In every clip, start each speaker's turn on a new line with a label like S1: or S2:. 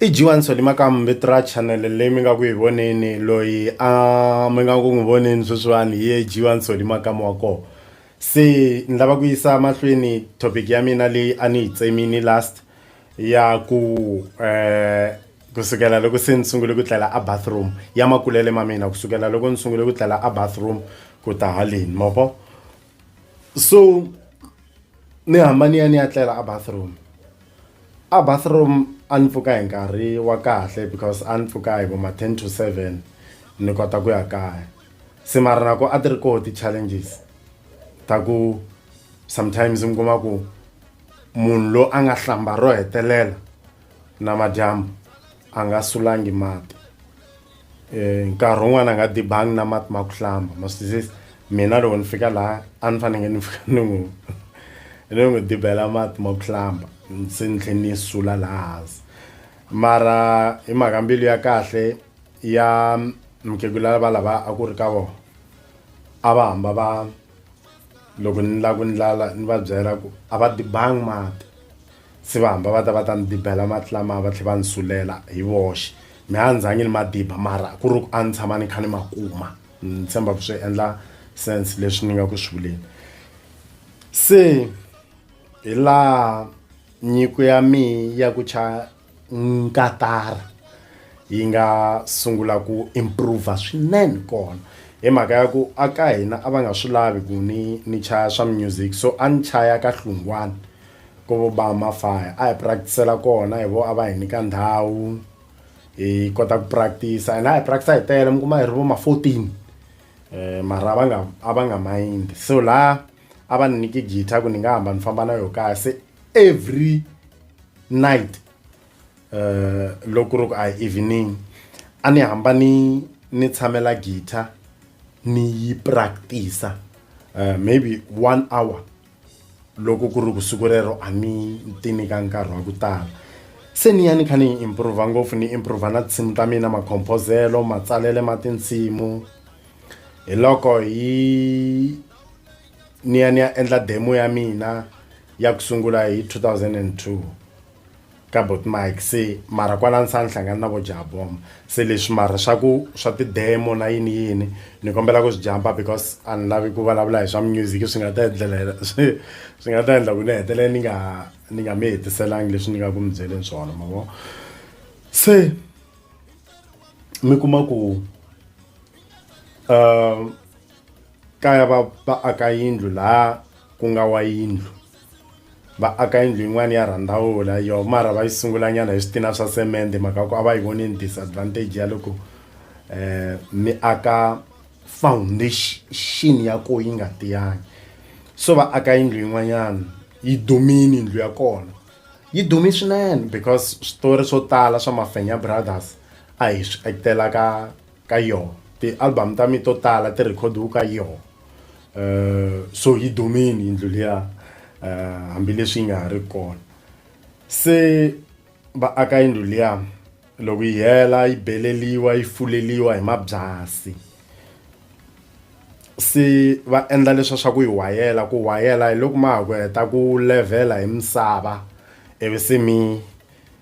S1: I G1 Solly Makambe Tra channel leyi mi nga ku yi voneni loyi a mi nga ku n'wi voneni sweswiwani hi ye G1 Solly Makama wa kona se ni lava ku yisa mahlweni topic ya mina leyi a ni yi tsemini last ya ku kusukela loko se ni sungule ku tlela a bathroom ya makulele ma mina kusukela loko ni sungule ku tlela a bathroom ku ta haleni ma vo so ni hamba ni ya ni ya tlela a bathroom a bathroom a ni pfuka hi nkarhi wa kahle because a ni pfuka hi vo ma ten to seven ni kota ku ya kaya se mara na ku a ti ri koho ti-challenges ta ku sometimes mi kuma ku munhu loyi a nga hlamba ro hetelela na madyambu a nga sulangi mati eh nkarhi wun'wana a nga dibangi na mati ma ku hlamba ma swi twisisa mina loko ni fika laha a ni fanele ni fika ni n'wi ni n'wi dibela mati ma ku hlamba se ni tlhela ni sula laha hansi mara hi mhaka mbilu ya kahle ya mukhegula va lava a ku ri ka vona a va hamba va loko ni lava ku ndlala ni va byela ku a va dibangi mati Se va hamba va ta va ta ni dibela mati lamaya va tlhe va ni sulela hi voxe. Me a ni zangi ni ma diba mara ku ri ku a ni tshama ni kha ni ma kuma. Ni tshemba ku swi endla sense leswi ni nga ku swi vuleni. Se hi laha nyiko ya mehe ya ku cha nkatara yi nga sungula ku improve swinene kona. Hi mhaka ya ku a ka hina a va nga swi lavi ku ni ni chaya swa music so a ni chaya ka hlungwana. Ku vo ba mafaya a hi practice-ela kona hi vo a va hi nyika ndhawu hi kota ku practice and a hi practice-a hi tele mi kuma hi ri vo ma fourteen mara a va nga a va nga mind so la a va ni nyike guitar ku ni nga hamba ni famba na yo kaya se every night loko ku ri ku a hi evening a ni hamba ni ni tshamela guitar ni yi practice-a maybe one hour loko ku ri ku siku rero a ni ti nyika nkarhi wa ku tala se ni ya ni kha ni yi improva ngopfu ni improva na tinsimu ta mina makhomphozelo matsalele ma tinsimu hi loko hi ni ya ni ya endla demo ya mina ya ku sungula hi 2002. Kabot Mike se mara kwala ni sa ni hlangana na vo jabom se leswi mara swa ku swa ti-demo na yini yini ni kombela ku swi jampa because a ni lavi ku vulavula hi swa music swi nga ta endlela swi swi nga ta endla ku ni hetelela ni nga ni nga mi hetiselangi leswi ni nga ku mi byeleni swona ma vo se mi kuma ku um kaya va va aka yindlu laha ku nga wa yindlu va aka yindlu yin'wana ya rhandavula yo mara va yi sungulanyana hi switina swa semende mhaka ku a va yi voni ni disadvantage ya loko um mi aka foundation ya ko yi nga tiyangi so va aka yindlu yin'wanyana yi dumini yindlu ya kona yi dumi swinene because switori swo tala swa mafenya brothers a hi swi actela ka ka yoho ti-album ta mina to tala ti rhikhodiwe ka yoho um so yi dumile yindlu liya um hambileswi yi nga ha ri kona se va aka yindlu liya loko yi hela yi beleliwa yi fuleliwa hi mabyasi se va endla leswa swa ku yi wayela ku wayela hi loko ma ha ku heta ku levhela hi misava ivi se mi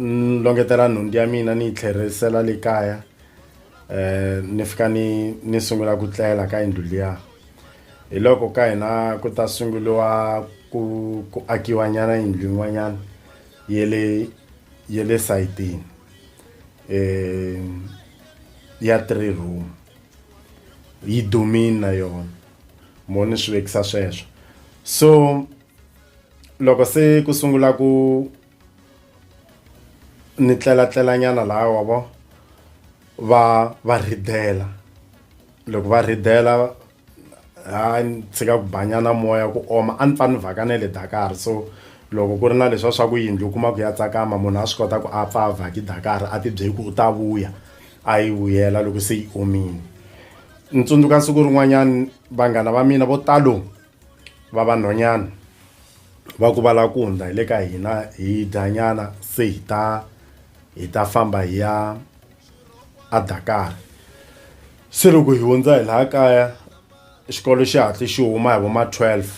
S1: ni longetela nhundzu ya mina ni yi tlherisela le kaya eh ni fika ni ni sungula ku tlela ka yindlu liya hi loko ka hina ku ta sunguriwa ku ku akiwa nyana yindlu yin'wanyana ye le ye le sayitini eh ya three room yi dumini na yona mo ni swi vekisa sweswo so loko se ku sungula ku ni tlelatlela nyana laha wa vo va va rhidela loko va rhidela ha ni tshika ku banyana moya ku oma a ni pfa ni vhaka na le dakar so loko ku ri na leswiya swa ku yindlu u kuma ku ya tsakama munhu a swi kota ku a pfa a vhaki dakar a tibyeli ku u ta vuya a yi vuyela loko se yi omile ni tsundzuka siku rin'wanyani vanghana va mina vo talo va vanhwanyana va ku va lava ku hundza hi le ka hina hi dyanyana se hi ta hi ta famba hi ya a Dakar se loko hi hundza hi laha kaya xikolo xi hatli xi huma hi vo ma twelve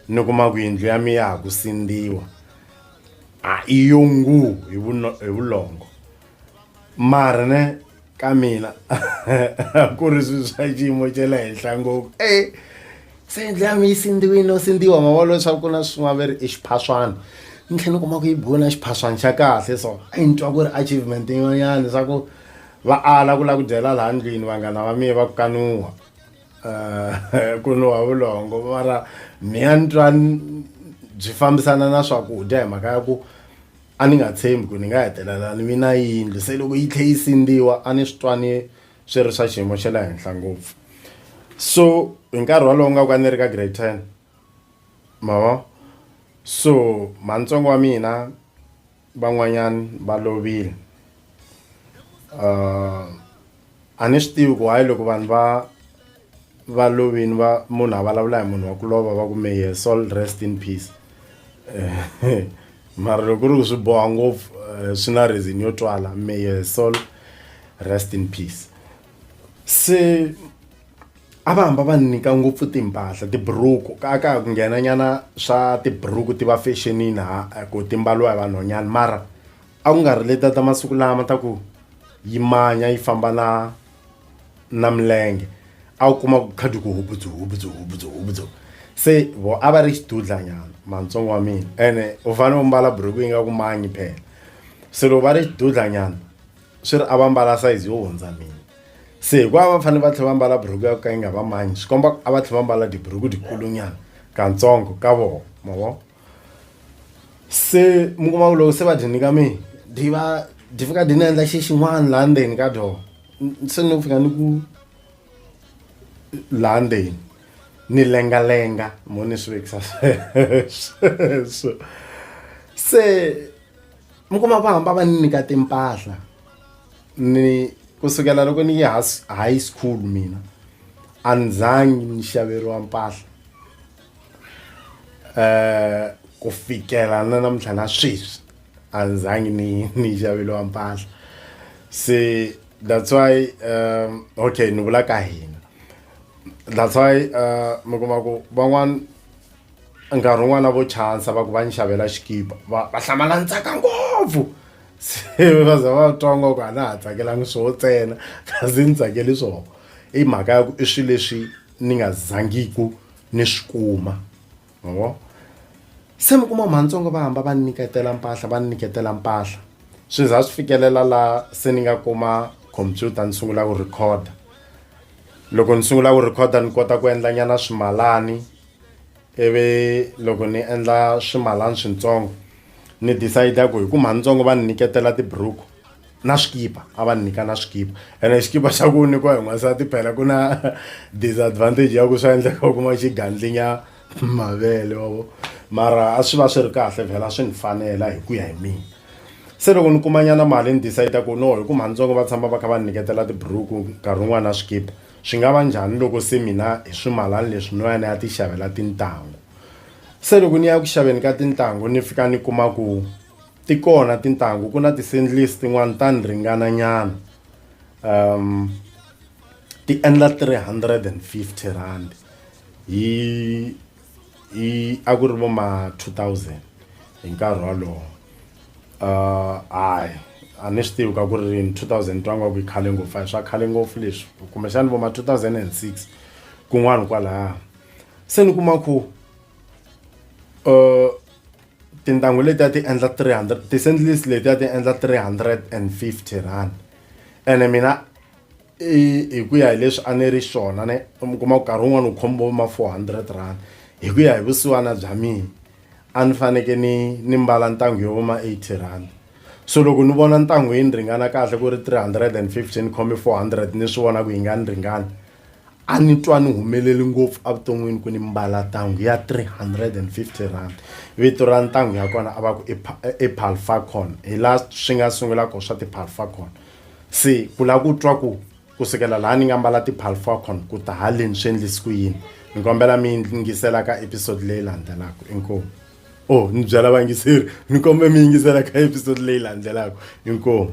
S1: ni kuma ku yindlu ya mina ya ha ku sindziwa a i yo nguu hi hi vulongo mara ne. ka mina a ku ri swilo swa xiyimo xa le henhla ngopfu e se ndle ya mi yi sindziwile no sindziwa ma vona leswaku ku na swin'wana va ri i xiphaswana ni tlhela ni kuma ku yi biwe na xiphaswana xa kahle so a yi ni twa ku ri achievement yin'wanyana swa ku va ala ku lava ku dyela laha ndlwini vanghana va mina va ku kanuwa um ku nuwa vulongo mara mina ni twa byi fambisana na swakudya hi mhaka ya ku a ni nga tshembi ku ni nga hetelela ni vi na yindlu se loko yi tlhe yi sindziwa a ni swi twa ni swi ri swa xiyimo xa le henhla ngopfu so hi nkarhi wolowo nga ku a ni ri ka grade ten mavo so manitsongo wa mina van'wanyana va lovile um a ni swi tivi ku hayi loko vanhu va va lovini va munhu a vulavula hi munhu wa ku lova va ku may her soul rest in peace mara loko ku ri ku swi boha ngopfu eh, swi na reason yo twala may her soul rest in peace se a va hamba va nyika ngopfu timpahla tiburuku ka ka ku nghena nyana swa tiburuku ti va fashionini ha eh, ku ti mbaliwa hi vanhwanyana mara a ku nga ri leta ta masiku lama ta ku yi manya yi famba na na milenge a wu kuma ku khadi ku hubudzu hubudzu hubudzu hubudzu se vo a va ri xidudlanyana mantsongo wa mina ene u fanele u mbala buruku yi nga ku manyi phela se loko va ri xidudlanyana swi ri a va mbala sayizi yo hundza mina se hikuva va fanele va tlhela va mbala buruku ya ku ka yi nga va manyi swi komba a va tlhela va mbala tiburuku dikulunyana katsongo ka vona ma vona se mi kuma ku loko se va dyi nyika mi dyi va dyi fika dyi ni endla xi xin'wana laha ndzeni ka dyoho se ni ku fika ni ku laha ndzeni ni lengalenga mo ni swi vekisa sweswo se mi kuma va hamba va ni nyika timpahla ni kusukela loko ni ya high school mina a ni zangi ni xaveriwa mpahla. eh ku fikela na namuntlha na sweswi a ndzangi ni ni xaveliwa mpahla se that's why um okay ni vula ka hina that's why uh mi kuma ku van'wana nkarhi wun'wana vo chansa va ku va ni xavela xikipa va va hlamala ntsaka ngopfu se va za va twa ngo ku a na ha tsakelanga swo ntsena kasi ni tsakeli swona i mhaka ya ku i swilo leswi ni nga zangiku ni swi kuma ma vo se mi kuma matsongo va hamba va nyiketela mpahla va nyiketela mpahla swi za swi fikelela laha se ni nga kuma computer ni sungula ku record loko ni sungula ku record ni kota ku endla nyana swimalani ivi loko ni endla swimalana switsongo ni decide ku hi ku matsongo va ni nyiketela tiburuku na swikipa a va nyika na swikipa ene xikipa xa ku nyikiwa hi n'wansati phela ku na disadvantage ya ku swa endleka u kuma xigandlinya mavele wavo mara a swi va swi ri kahle vhela swi ni fanela hi ku ya hi mina se loko ni kumanyana mali ni decide ku no hi ku mhanitsongo va tshama va kha va ni nyiketela tiburuku nkarhi wun'wana na swikipa swi nga va njhani loko se mina hi swimalani leswi no ya ni ya ti xavela tintangu se loko ni ya ku xaveni ka tintangu ni fika ni kuma ku Ti kona tintangu ku na ti-sandleys tin'wani ta ni ringana nyana um ti endla 350 rand hi hi a ku ri vo ma 2000 hi nkarhi wolowo uh hayi a ni swi tivi ka ku ri rini 2000 twa nga ku yi khale ngopfu a hi swa khale ngopfu leswi kumbexani vo ma 2006 kun'wani kwalaya se ni kuma ku um tintangu letiya ti endla 300 ti-sandlis letiya ti endla 350 rand ene mina hi ku ya hi leswi a ni ri xona ne mi kuma ku nkarhi wun'wana wu khombo ma 400 rand hi ku ya hi vusiwana bya mina a ni faneke ni ni mbala ntangu yo voma 80 rand so loko ni vona ntangu yi ni ringana kahle ku ri 350 ni khome 400 ni swi vona ku yi nga ni ringani a ni twa ni humeleli ngopfu evuton'wini ku ni mbala ntangu ya 350 rand vito ra ntangu ya kona a va ku i palfacon hi laha swi nga sungula kona swa ti-palfacon se ku lava ku twa ku ku sukela laha ni nga mbala ti-palfacon ku ta haleni swi endlisi ku yini ni kombela mi yingisela ka episode leyi landzelaka inkomu o oh, ni byela vayingiseri ni kombela mi yingisela ka episode leyi landzelaka inkomu